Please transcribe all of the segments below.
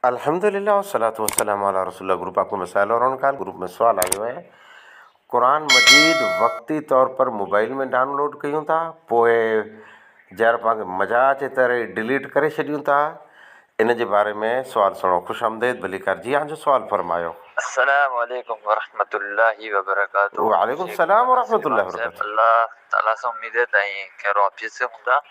الحمدللّٰه والصلوٰة والسلام علی رسول اللّٰه گروپ آف ڪو مسائل اور ان کان گروپ ۾ سوال آيو آهي قرآن مجيد وقتي طور پر موبائل ۾ ڊائونلوڊ ڪيون ٿا پوء جهڙو پاڻ کي مزا اچي تهڙو ئي ڊليٽ ڪري ڇڏيون ٿا ان جي باري ۾ سوال سڻو خوش آمديد ڀليڪار جي آن جو سوال فرمايو. السلام عليڪم ورحمة الله وبرڪاته وعليڪم السلام ورحمة الله وبرڪاته الله تعالي سان اميد آهي ته اوهين خيرو عافيت سان هوندا.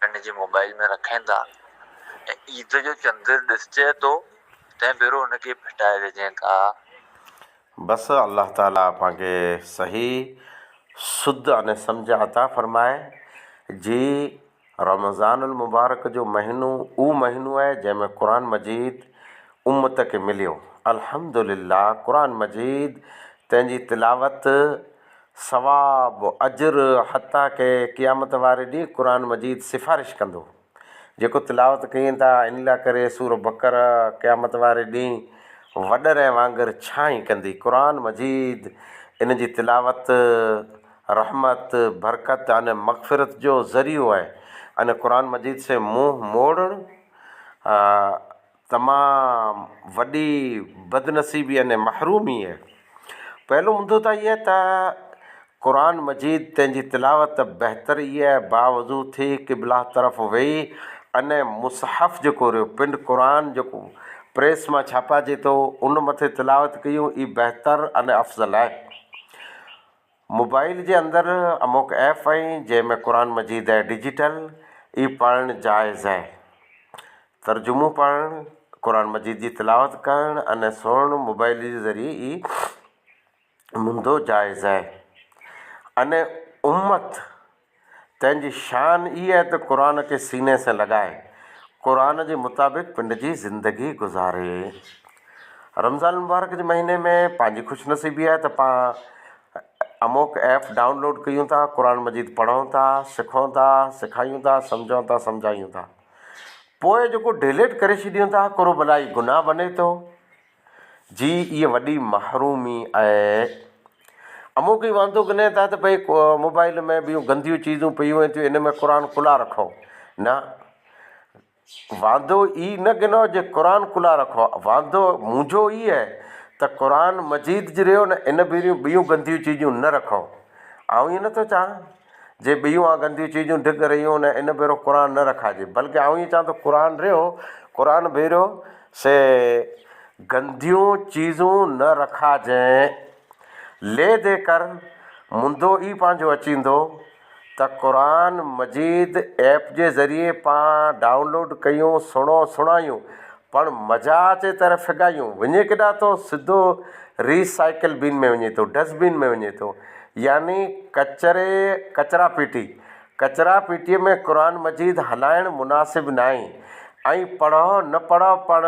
پڻ جي موبائيل ۾ رکين ٿا ۽ عيد جو چنڊ ڏسجي ٿو تنهن ڀيرو ان کي ڦٽائي وجهين ٿا. بس الله تعالي اوهان کي صحيح سڌ ۽ سمجھ عطا فرمائي جي رمضان المبارڪ جو مهينو اهو مهينو آهي جنهن ۾ قرآن مجيد امت کي مليو الحمدلله قرآن مجيد تنهن جي تلاوت ثواب، اجر، حتيٰ ڪه قيامت واري ڏينهن قرآن مجيد سفارش ڪندو. جيڪو تلاوت ڪين ٿا ان لاء ڪري سوره بقره قيامت واري ڏينهن وڏرئين وانگر ڇانء ڪندي. قرآن مجيد، ان جي تلاوت، رحمت، برڪت ۽ مغفرت جو ذريعو آهي ۽ قرآن مجيد سين منهن موڙڻ، تمام وڏي بدنصيبي يعني محرومي اهي پهلو مدو ته اهي ته قرآن مجيد تنهنجي تلاوت بهتر اهي آهي باوضو ٿي قبله طرف ويهي ان مصحف جيڪو ريو پنڊ قرآن جيڪو پريس مان ڇاپا جي ٿو ان مٿي تلاوت ڪيون اي بهتر ان افضل آهي موبائيل جي اندر اموڪ ايپ اهي جنهن ۾ قرآن مجيد اهي ڊجيٽل ئي پڙهڻ جائز اهي ترجمو پڙهڻ قرآن مجيد جي تلاوت ڪرڻ اني سوڻ موبائيل جي ذريعي ئي منڌو جائز اهي اني امت تنهن جي شان ئي اهي ته قرآن کي سيني سين لڳائي قرآن جي مطابق پنڊ جي زندگي گذاري. رمضان المبارڪ جي مهيني ۾ پنهنجي خوش نصيبي آهي ته پان اموڪ ايپ ڊائون لوڊ ڪيون ٿا قرآن مجيد پڙهون ٿا سکون ٿا سکايون ٿا سمجهون ٿا سمجهايون ٿا پوء جيڪو ڊيليٽ ڪري ڇڏيون ٿا ڪرو بلائي گناهه بني ٿو جي اهي وڏي محرومي ۽ امو ڪي واندو گني ٿا ته ڀئي موبائل ۾ به گنديون چيزون پيون وين ٿيون ان ۾ قرآن کلا رکو نه واندو اي نه گنو جي قرآن کلا رکو واندو منهنجو اي هي ته قرآن مجيد جي ريو نه ان ڀيريون ٻيون گنديون چيزون نه رکو آئون اي نه ٿو چاهان جي ٻيون آن گنديون چيزون ڊڳ رهيون نه ان ڀيرو قرآن نه رکائجي بلڪه آئون ائين چوان ٿو قرآن رهيو قرآن ڀيرو سي گنديون چيزون نه رکائجين لي دي ڪر منڌو ئي پنهنجو اچيندو ته قرآن مجيد ايپ جي ذريعي پان ڊائونلوڊ ڪيون سڻو سڻايون پڻ مزا اچي تر ڦڳايون، وڃي ڪيڏانهن ٿو؟ سڌو ري سائيڪل بين ۾ وڃي ٿو، ڊسٽ بين ۾ وڃي ٿو، يعني ڪچري ڪچرا پيٽي، ڪچرا پيٽي ۾ قرآن مجيد هلائڻ مناسب ناهي ۽ پڙهه نه پڙهه پڻ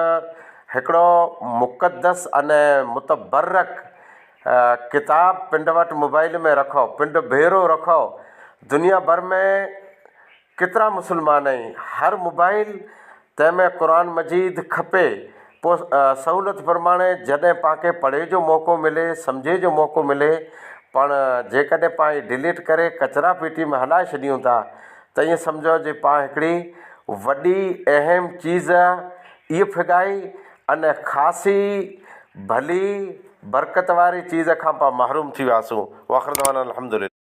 هڪڙو مقدس ۽ متبرڪ ڪتاب پنڊ وٽ موبائيل ۾ رکو، پنڊ ڀيرو رکو، دنيا ڀر ۾ ڪيترا مسلمان ۽ ھر موبائيل تنهن ۾ قرآن مجيد کپي پو سهولت پرماڻي جڏهن پانکي پڙهي جو موقعو ملي سمجهي جو موقعو ملي پڻ جيڪڏهن پان اي ڊليٽ ڪري ڪچرا پيٽي ۾ هلائي ڇڏيون ٿا ته ايئن سمجهو جي پان هڪڙي وڏي اهم چيز اي ڦڳائي ان خاصي ڀلي برڪت واري چيز کان پان محروم ٿي وياسون واخردعوانا الحمدلله.